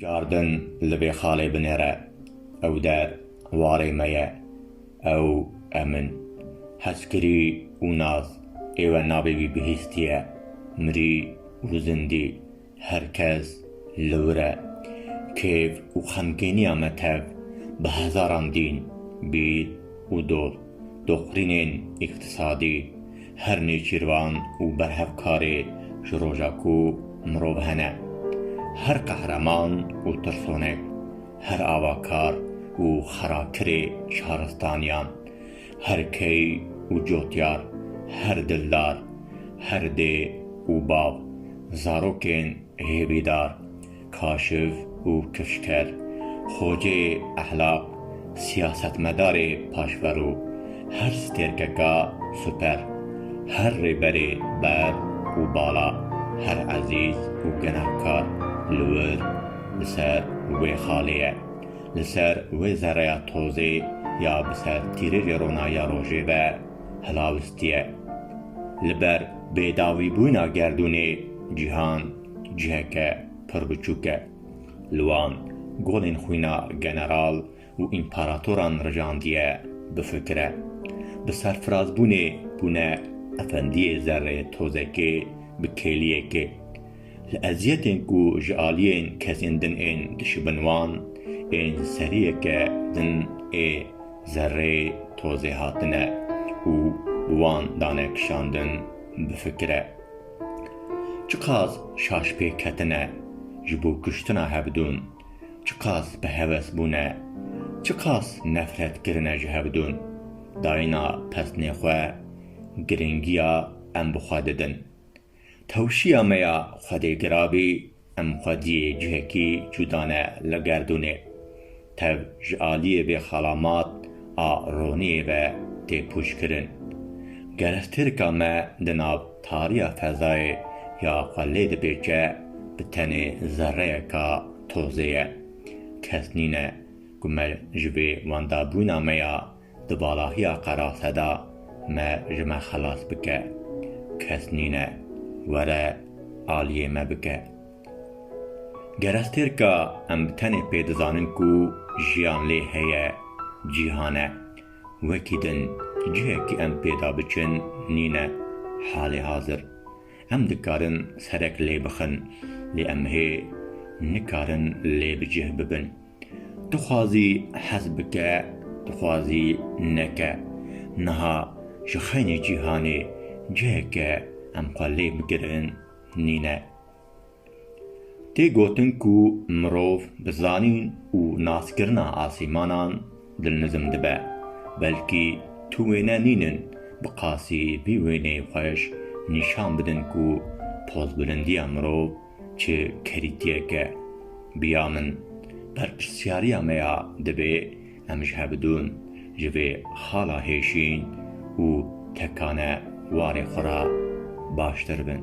Cardin li vê xalê binêre. Ew der warê me ye. Ew e min. Hezkirî û naz ê we navê wî bihîstiye. Mirî û zindî her kes li wir e. Kêf û xemgîniya me tev bi hezaran dîn, bîr û dost, doqrînên îqtîsadî, Her nêçîrvan û berhevkarê ji roja ku mirov hene, her qehreman û tirsonek, her avakar û xerakirê şaristaniyan, her key û cotyar, her dildar, her dê û bav, zarokên hêvîdar, Kaşiv û Kifşker, Xoceyê Ehlaq, Siyasetmedarê Paşverû, Her Stêrkeka Super, Her Rêberê Ber û Bala, Her Ezîz û Gunehkar li wir bi ser wê xalê ye. Li ser wê zereya tozê ya bi ser tîrêjê rona ya rojê ve hilawistî ye. Li ber bêdawîbûyna gerdûnê, cîhan, Ciheke pir biçûk e. Li wan golên xwîna general û împaratoran rijandiye bifikire. Bi serfirazbûnê bûne efendiyê zerrê tozekê bi kêliyekê. Li eziyetên ku ji aliyên kesên din ên dişibin wan ên seriyeke din ê zerrê tozê hatine û bi wan dane kişandin bifikire. Çiqas şaş pêk ketine ji bo kuştina hevdûn, çiqas bi heves bûne, çiqas nefret kirine ji hevdûn, dayina pesnê xwe giringiya em bi xwe didin. Tewşiya me ya Xwedê Girabî Em xwediyê cihekî cuda ne li gerdûnê. Tev ji aliyê vê xalamat a roniyê ve tê pûçkirin. Gerek tirka me di nav tariya fezayê ya xwe lê dipêçe bi tenê zereyeka tozê ye. Kes nîne ku me ji vê wendabûna me ya Di balahiya qerase de me ji me xelas bike, kes nîne were aliyê me bike. Gerestêrka em bi tenê pê dizanin ku jiyan lê heye cîhan e. Wekî din cihekî em pê de biçin nîne. Halê hazir em dikarin serek lê bixin lê em hê nikarin lê bi cih bibin. Dixwazî hez bike, dixwazî neke. Niha ji xeynê cîhanê ciheke em xwe lê bigirin nîne. Tê gotin ku mirov bi zanîn û naskirina asîmanan dilnizm dibe. Belkî tu wêne nînin bi qasî vî wêneyê xweş nîşan bidin ku pozbilindiya mirov, Çi kerîtiyeke bi ya min berpirsyariya me ya divê em ji hevdûn ji vê xala hêşîn û tekane warê xwe re baştir bin.